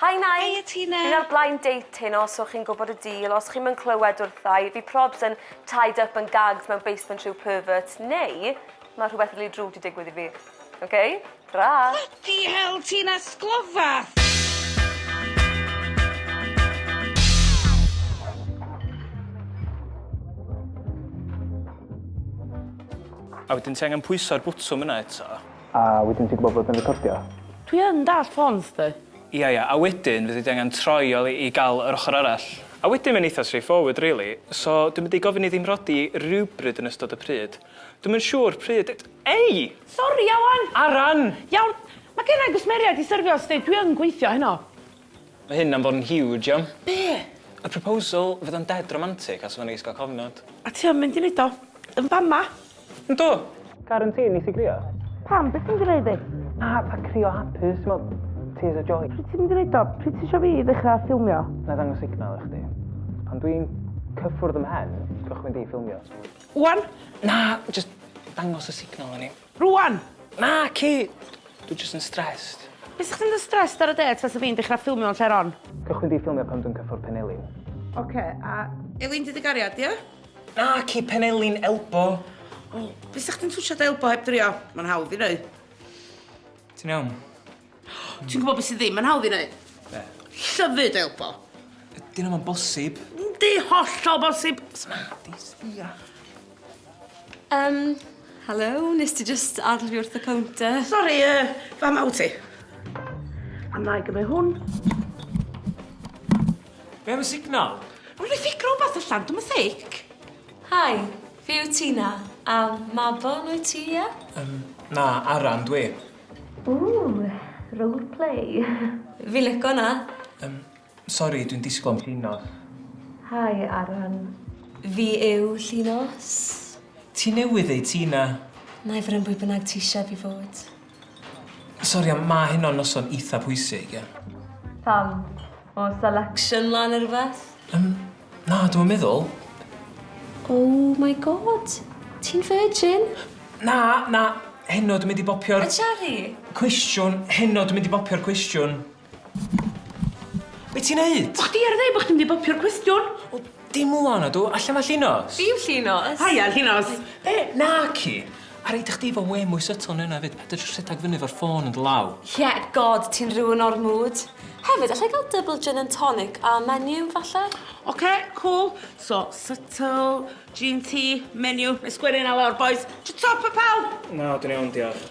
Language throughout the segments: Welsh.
Hi Nige! Heia Tina! Fi'n ar blind date heno so chi'n gwybod y deal, os chi'm yn clywed wrtha i, fi probs yn tied up yn gags mewn basement rhyw pervert, neu ma' rhywbeth rili drwg 'di digwydd i fi. Ok? Tara! Bloody hell Tina, sglofa! A wedyn ti angen pwyso ar bwtwm yna eto. A wedyn ti'n gwbod bod yn recordio. Dwi yn dallt ffôns chdi. Ia ia, a wedyn fyddi di angen troi o i gal yr ochor arall. A wedyn mae'n eitha straight forward rili, so dwi'n mynd i gofyn i ddim rhodi rywbryd yn ystod y pryd. Dwi'm yn siŵr pryd yd- Ei! Sori Ieuan! Aran! Iawn, ma genna i gwsmeriaid i syrfio sdi, dwi yn gweithio heno. Mae hyn am fod yn huge iawn. Be? Y proposal fydd o'n dead romantic a sa fo'n neis ga'l cofnod. A ti yn mynd i neud o? Yn fama? Yndw! Karen ti neith i grio? Pam be ti'n gneud i? Na fatha crio hapus t'mod tears of joy. Pryd ti'n mynd i neud o? Pryd tisio fi ddechra ffilmio? Nai ddangos signal i chdi. Pan dwi'n cyffwrdd ym mhen cychwyn di ffilmio. Ŵan? Na jyst dangos y signal i ni. Rŵan! Naci! Dwi jyst yn stressed. Bysach chdi'n mynd yn stressed ar y dêt fasa fi'n dechra ffilmio yn lle'r hon. Cychwyn di ffilmio pan dwi'n cyffwrdd Penelin. Oce, a. Elin di dy gariad, ia? Naci, Penelin, Elbo! O, bysach chdi'n twtshad Elbo heb drio? Ma'n hawdd i neu'. Ti'n iawn? Ti'n gwybod beth sydd ddim yn hawdd i wneud? Be? Llyfu dy elbo. Ydy hynna mae'n bosib. Yndi, hollol bosib. Sma, di, sbia. Um, hello, nes ti just adl fi wrth y counter. Sorry, uh, fa maw ti. A na i gymryd hwn. Be am y signal? Rwy'n i ffic rhywbeth allan, dwi'n mythic. Hi, Fi yw Tina. A Mabon wyt ti ie? Yym na Aran dw i. Ww! Role play. Fi'n lico hwnna. Yym sori dwi'n disgwl am llinos. Hi Aran. Fi yw llinos. Ti newydd ddeud Tina. Nai fod yn bwy bynnag ti ishe fi fod. Sori ond ma' hyn o'n noson eitha pwysig ie? Pam? Oes selection lan neu rhywbeth? Yym na dwi'm yn meddwl. Oh my God! Ti'n virgin? Na na heno dwi mynd i bopio'r... Y cherry? ...cwestiwn heno dwi mynd i bopio'r cwestiwn. Be' ti'n neud? O' chdi ar ddeu' bo' chdi'n mynd i bopio'r cwestiwn. O dim ŵan ydw, allan ma' Llinos. Dim Llinos. Haia Llinos. Be'? Naci. A reid i chdi fo wê mwy subtle na wnna efyd, paid â jys rhedag fyny efo'r ffôn yn dy law. Ie, God, ti'n ruin o'r mood. Hefyd, allai ga'l double gin and tonic a menu, falle? Oce, cŵl. So, subtle, gin ti, menu, nai sgwennu wnna lawr bois. Twtwp a pawb! Na, dwi'n iawn, diolch.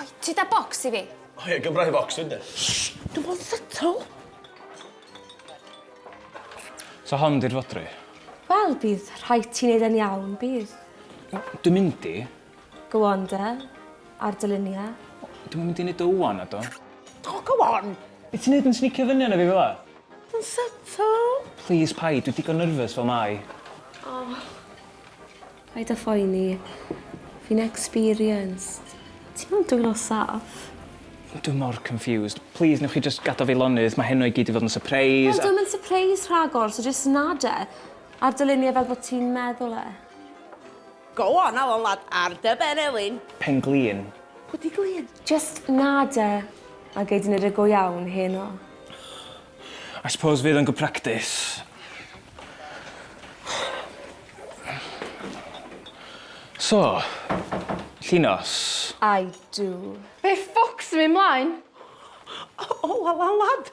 Oi, ti da bocs i fi? O ie, gyfraith bocs fi de. Shh! Dw mo'n settle. So hon di'r fodry? Wel, bydd rhaid ti neud e'n iawn, bydd. Dwi'n mynd i. Go on de, ar dy lunia. Dwi'm yn mynd i neud o ŵan, na dw? O, go on! Be' ti'n neud yn snicio fyny arno fi fel 'a? Dw'n settle. Plîs paid, dwi digon nerfys fel mae. O. Paid a phoeni. Fi'n experienced. Ti mewn dwylo saff. Dwi mor confused. Plîs newch chi jyst gadel fi lonydd, mae heno i gyd 'di fod yn sypreis a... Wel, 'di o'm yn sypreis rhagor, so jyst nod e, a'r dylunio e fel bo' ti'n meddwl e. Go on, Alun lad, ar dy ben Elin! Pen-glin. Pwy 'di Glin? Jyst nod e, a gei di neud e go iawn heno. I suppose fydd o'n good practice. So, Llinos. I do. Be ffwc sy'n myn' mlaen? O la la lad!